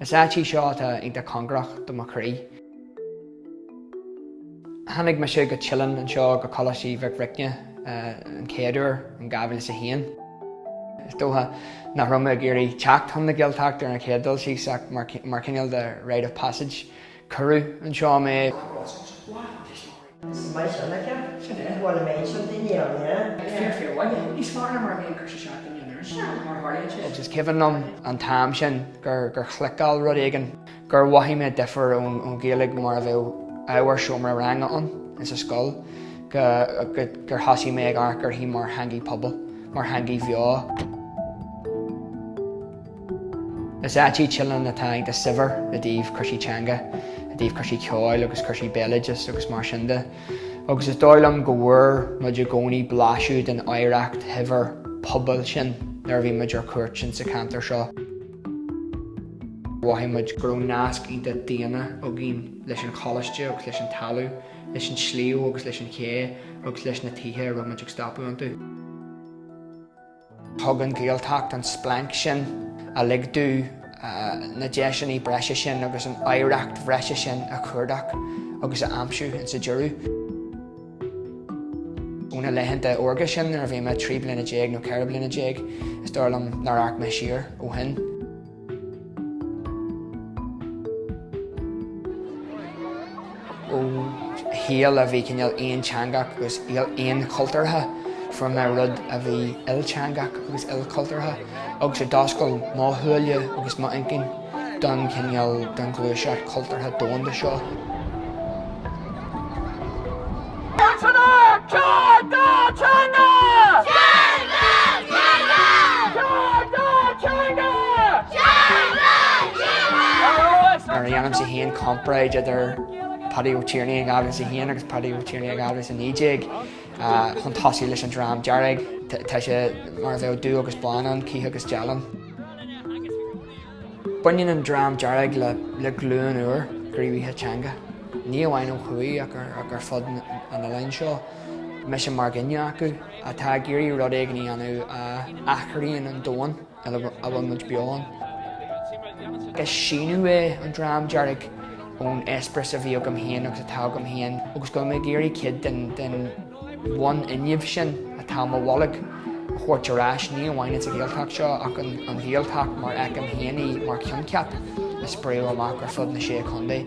Is áit í seo atá iontach cóngarach do mo chroí. Tháinig mise go Teileann anseo go Coláiste Aoidh Mhic Bhricne an chéad uair in 2001. Is dócha nach raibh mé ag iarraidh teacht chun na Gaeltachta ar an chéad dul síos ach mar cineál de rite of passage cuireadh anseo mé. Is maith sin aici. Sin é. Bhuel, an méid sin daoine ann, yeah. Ag fir fir uaine. Níos fearr ná mar a bhí ag Cois 7 Dún Laoghaire ansin, mar a tharlaíonn sé. Is cuimhin liom an t-am sin gur chliceáil rud éigin, gur mhothaigh mé difear ón Ghaeilge mar a bheadh ábhar seomra ranga ann insa scoil, gur thosaigh mé ag amharc uirthi mar theangaidh pobail, mar theangaidh bheo. Is áit í Teileann atá iontach saibhir i dtaobh cúrsaí teanga, i dtaobh cúrsaí ceoil agus cúrsaí béaloidis agus mar sin de, agus is dóigh liom go bhfuair muid i gcónaí blaiseadh den oidhreacht shaibhir pobail sin nuair a bhí muid ar cuairt insa cheantar seo. Mhothaigh muid go raibh nasc iontach daonna againn leis an choláiste agus leis an talamh, leis an sliabh agus leis an ché agus leis na tithe a raibh muid ag stopadh iontu. Thug an Ghaeltacht an splanc sin a lig domh na deiseanna breise sin agus an oidhreacht bhreise sin a chuardach agus a aimsiú insa deireadh. Ó na laethanta órga sin nuair a bhí mé trí bliana déag nó ceithre bliana déag, is dóigh liom nár amharc mé siar ó shin. ó shaol a bhí cineál aonteangach agus shaol aonchultúrtha from a rud a bhí ilteangach agus ilchultúrtha agus a d'oscail mo shúile agus mo inchinn don cineál don ghluaiseacht cultúrtha domhanda seo. Nuair a dhéanaimse aon chomparáid idir Paddy Ó Tiarnaigh in 2001 agus Paddy Ó Tiarnaigh in 2019 chun tosaigh leis an Dream Dearg, tá sé mar a bheadh dubh agus bán ann, cith agus dealán. Baineann an Dream Dearg le glúin úr gníomhaithe teanga, ní amháin ó thuaidh ach ar fud an oileáin seo, mise mar dhuine acu, atá ag iarraidh rud éigin a dhéanamh a athraíonn an domhan ina bhfuil muid beo ann. Is síneadh é an Dream Dearg ón eispéireas a bhí agam féin agus atá agam féin agus go bhfuil mé ag iarraidh cuid den bhunfhuinneamh sin atá i mo bholg a thabhairt ar ais, ní amháin ins an Ghaeltacht seo ach an Ghaeltacht mar fheicim féin í mar choincheap a spréadh amach ar fud na Sé Chontae.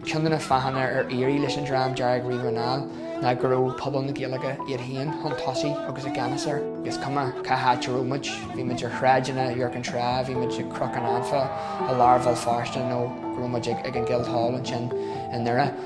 Ceann de na fáthanna ar éirigh leis an Dream Dearg riamh anall ná go raibh pobal na Gaeilge iad féin chun tosaigh agus i gceannas air. Agus cuma cá háit a raibh muid, bhí muid ar shráideanna Iúr Cinn Trá, bhí muid ag Cnoc an Anfa i lár Bhéal Feirste nó go raibh muid ag an Guildhall ansin i nDoire.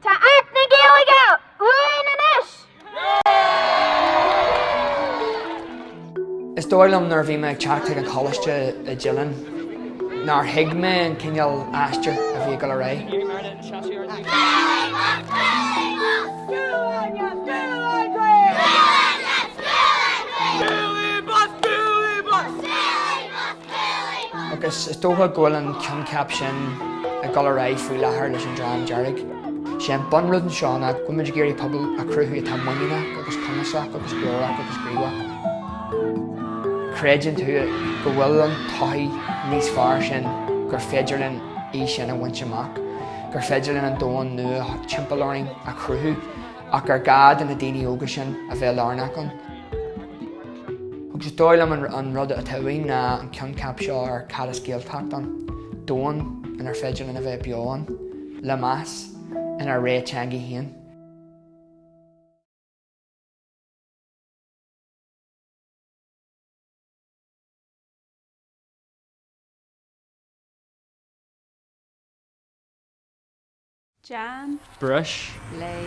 Tá Acht na Gaeilge uainn anois! Is dóigh liom nuair a bhí mé ag teacht chuig an choláiste i Dillon nár thuig mé an cineál aistir a bhí ag dul ar aghaidh. Agus is dócha go bhfuil an coincheap sin ag dul ar aghaidh faoi láthair leis an Dream Dearg. Is é an bunrud anseo ná go bhfuil muid ag iarraidh pobal a chruthú atá muiníneach agus cumasach agus glórach agus gníomhach. Creideann tú go bhfuil an todhchaí níos fearr sin, gur féidir linn í sin a bhaint amach, gur féidir linn an domhan nua timpeall orainn a chruthú. Ach gur gá do na daoine óga sin a bheith lárnach ann. Agus is dóigh liom an rud atá uainn ná an coincheap seo ar cad is Gaeltacht ann, domhan inar féidir linn a bheith beo ann, le meas, inár rogha teanga féin. Jam. Brush. Lay.